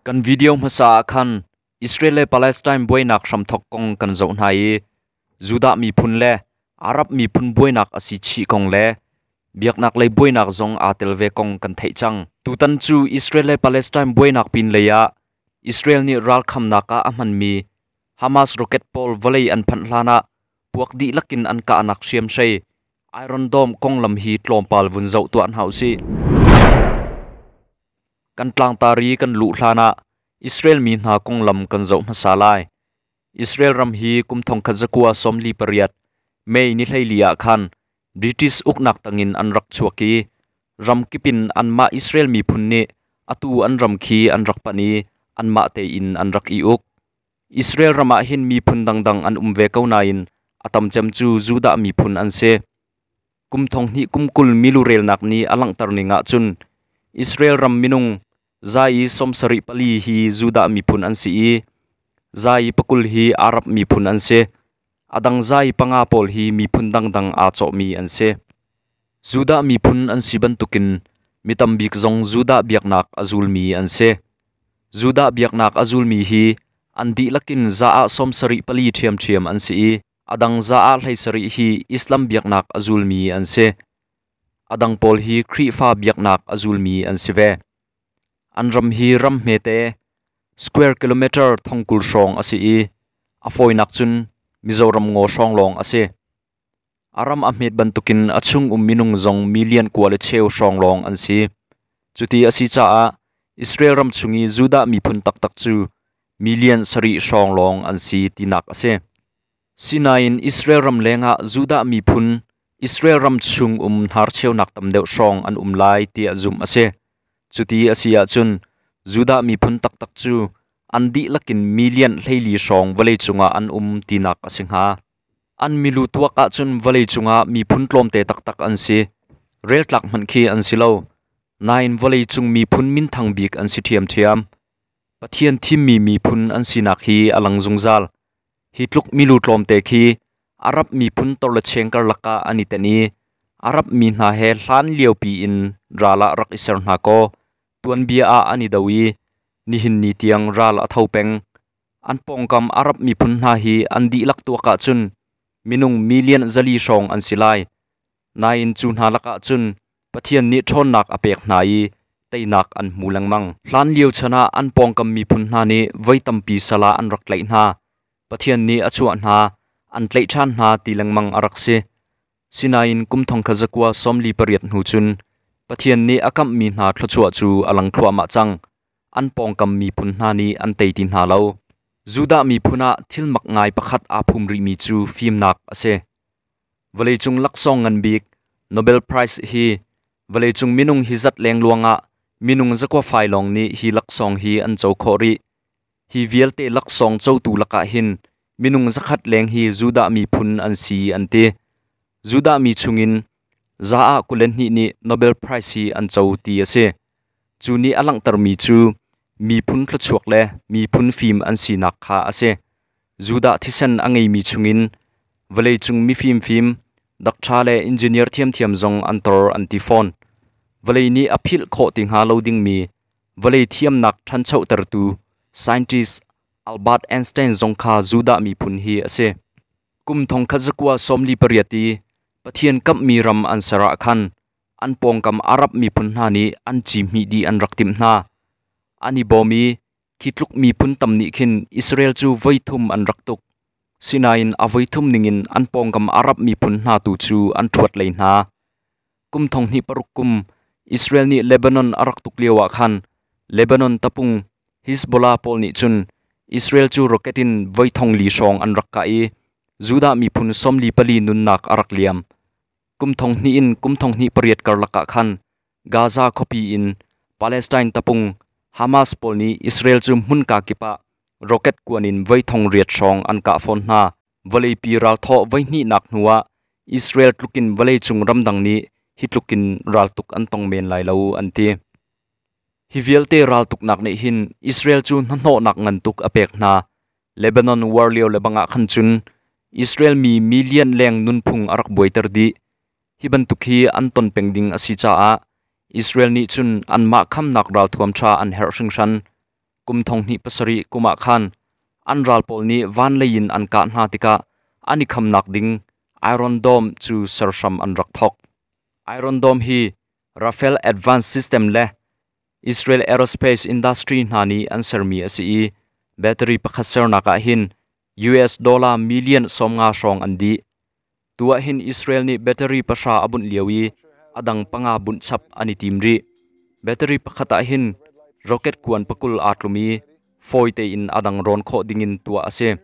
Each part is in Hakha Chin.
Kan video hmasa ah khan Israel le Palestine buainak hramthok kong kan zoh hna i Judah miphun le Arab miphun buainak asi chih kong le biaknak lei buainak zong aa tel ve kong kan theih cang. Tutan cu Israel le Palestine buainak pin lei ah Israel nih ralkhamnak ah a hmanmi Hamas rocket pawl vawlei an phanh hlan ah puak dihlak in an kahnak hriamhrei iron dome konglam hi tlawmpal vun zoh tuah hna u sih. Kan tlangtar i kan luh hlan ah Israel mi hna konglam kan zoh hmasa lai. Israel ram hi kum thongkhat zakua sawmli pariat Mei ni hleili ah khan British uknak tangin an rak chuak i ram kipin anmah Israel miphun nih atu an ram khi an rak panh i anmah tein an rak i uk. Israel ram ah hin miphun dangdang an um ve ko nain a tam cem cu Judah miphun an si. Kum thong hnih kum kul milu relnak ni a langhter ning ahcun Israel ram minung za i sawm sarih pali hi Judah miphun an si i za i pakul hi Arab miphun an si. A dang zai panga pawl hi miphun dangdang aa cawhmi an si. Judah miphun an si bantukin mi tambik zong Judah biaknak a zulmi an si. Judah biaknak a zulmi hi an dihlak in za ah sawm sarih pali ṭhiamṭhiam an si i a dang za ah hlei sarih hi Islam biaknak a zulmi an si. A dang pawl hi Khrihfa biaknak a zulmi an si ve. An ram hi ram hmete square kilometer thongkul hrawng a si i a fawinak cun Mizoram ngaw hrawng lawng a si. A ram a hmet bantukin a chung um minung zong million kua le cheu hrawng lawng an si. Cuti a si caah Israel ram chung i Judah miphun taktak cu million sarih hrawng lawng an si tinak a si. Sinain Israel ram lengah Judah miphun Israel ram chung um hnarcheunak tam deuh hrawng an um lai tiah zumh a si. Cuti a si ahcun Judah miphun taktak cu an dihlak in million hleili hrawng vawleicung ah an um tinak a si hnga. An milu tuak ahcun vawleicung ah miphun tlawmte taktak an si. Reltlak hmanh khi an si lo. Nain vawleicung miphun minthang bik an si ṭhiamṭhiam. Pathian thimmi miphun an sinak hi a lang zungzal. Hi tluk milu tlawmte khi Arab miphun torlecheng karlak ah an i ten i Arab mi hna he hlan liopi in ral ah rak i ser hna kaw tuanbia ah an i do i nihin ni tiang ral a tho peng. An pawngkam Arab miphun hna hi an dihlak tuak ahcun minung million zali hrawng an si lai. Nain cu hna lakah cun Pathian nih ṭhawnnak a pek hna i teinak an hmu lengmang. Hlanlio chan ah an pawngkam miphun hna nih voi tampi sal ah an rak tlaih hna. Pathian nih a chuah hna, an tlaih ṭhan hna ti lengmang a rak si. Sinain kum thong khat zakua sawmli pariat hnu cun Pathian nih a kamhmi hna thluachuah cu a lang thluahmah cang. An pawngkam miphun hna nih an tei ti hna lo. Judah miphun ah thilmak ngai pakhat aa phum rihmi cu fimnak a si. Vawleicung laksawng ngan bik Nobel Prize hi vawleicung minung hi zat lengluang ah minung zakua fai lawng nih hi laksawng hi an co khawh rih. Hi vialte laksawng cotu lakah hin minung zakhat leng hi Judah miphun an si an ti. Judah mi chungin za ah kul le hnih nih Nobel Prize hi an co ti a si. Cu nih a langhtermi cu miphun thluachuak le miphun fim an sinak kha a si. Judah thisen a ngeimi chungin vawleicung mi fimfim, dak ṭha le engineer ṭhiamṭhiam zong an tor an ti fawn. Vawlei nih a philh khawh ti hnga lo dingmi vawlei thiamnak ṭhanchotertu scientist Albert Einstein zong kha Judah miphun hi a si. Kum thongkhat zakua sawmli pariat i Pathian kamhmi ram an ser ah khan an pawngkam Arab miphun hna nih an cihmih dih an rak timh hna. An i bawm i khi tluk miphun tam nih khin Israel cu voi thum an rak tuk. Sinain a voi thum ningin an pawngkam Arab miphun hna tu cu an ṭhuat lei hna. Kum thong hnih paruk kum Israel nih Lebanon a rak tuk lioah khan Lebanon tapung Hezbollah pawl nih cun Israel cu rocket in voi thong li hrawng an rak kah i Judah miphun sawmli pali nunnak a rak liam. Kum thong hnih in kum thong hnih pariat karlak ah khan Gaza khuapi in Palestine tapung Hamas pawl nih Israel cu hmunka kip ah rocket kuan in voi thong riat hrawng an kah fawn hna. Vawleipi ralthawh voi hnihnak hnu ah Israel tlukin vawleicung ramdang nih hi tlukin raltuk an tong men lai lo an ti. Hi vialte raltuknak nih hin Israel cu hnahnawhnak ngan tuk a pek hna. Lebanon war lio le bangah khan cun Israel mi million leng nunphung a rak buaiter dih. Hi bantuk hi an ton peng ding a si caah Israel nih cun anmah khamnak ralthuam ṭha an herh hringhran. Kum thong hnih pasarih kum ah khan an ral pawl nih van lei in an kah hna tikah an i khamnak ding Iron Dome cu serhram an rak thawk. Iron Dome hi Rafael Advance System le Israel aerospace industry hna nih an sermi a si i battery pakhat sernak ah hin US dollar million sawmnga hrawng an dih. Tu ah hin Israel nih battery pahra a bunh lio i a dang panga bunh chap an i tim rih. Battery pakhat ah hin rocket kuan pakul aa tlum i fawi tein a dang rawn khawh dingin tuah a si.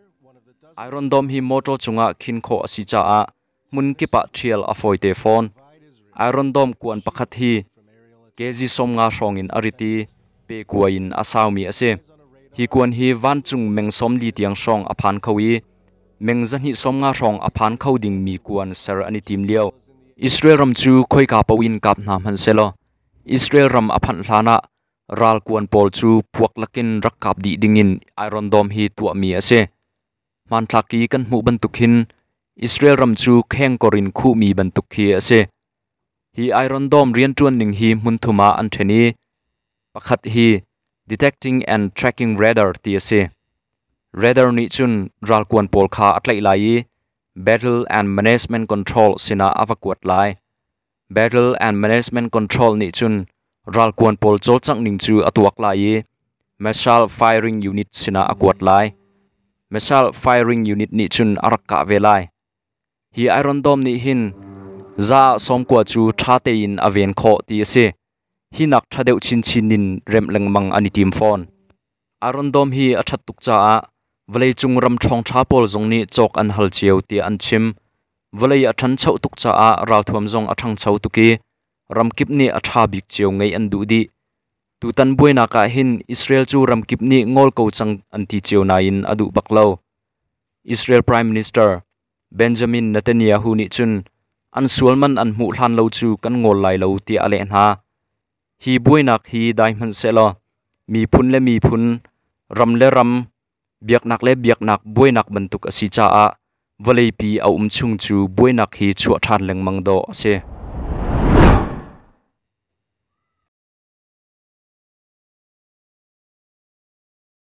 Iron Dome hi motor cungah khin khawh a si caah hmun kip ah ṭhial a fawite fawn. Iron dawm kuan pakhat hi kezi sawmnga hrawng in a rit i pe kua in a saumi a si. Hi kuan hi vancung meng sawmli tiang hrawng a phan kho i meng zahnih sawmnga hrawng a phan kho dingmi kuan ser an i tim lio. Israel ram cu khoika po in kap hna hman selaw Israel ram a phanh hlan ah ral kuan pawl cu puak lakin rak kap dih dingin iron dawm hi tuahmi a si. Hmanthlak i kan hmuh bantuk hin Israel ram cu khengkor in khuhmi bantuk khi a si. Hi iron dome rianṭuan ning hi hmun thum ah an ṭhen i pakhat hi detecting and tracking radar ti a si. Radar nih cun ralkuan pawl kha a tlaih lai i battle and management control sinah a va kuat lai. Battle and Management Control nih cun ralkuan pawl cawlcangh ning cu a tuak lai i missile firing unit sinah a kuat lai. Missile firing unit nih cun a rak kah ve lai. Hi Iron Dome nih hin za sawmkua cu ṭha tein a ven khawh ti a si. Hinak ṭha deuh chinchin in remh lengmang an i tim fawn. Aaron dawm hi a ṭhat tuk caah vawleicung ram ṭhawngṭha pawl zong nih cawk an hal cio tiah an chim. Vawlei a ṭhancho tuk caah ralthuam zong a ṭhangcho tuk i ramkip nih a ṭha bik cio ngeih an duh dih. Tutan buainak ah hin Israel cu ramkip nih ngol ko cang an ti cio nain a duh bak lo. Israel Prime Minister Benjamin Netanyahu nih cun an sual man an hmuh hlan lo cu kan ngol lai lo tiah a leh hna. Hi buainak hi dai hmanhsehlaw miphun le miphun, ram le ram, biaknak le biaknak buainak bantuk a si caah vawleipi a um chung cu buainak hi chuah ṭhan lengmang dawh a si.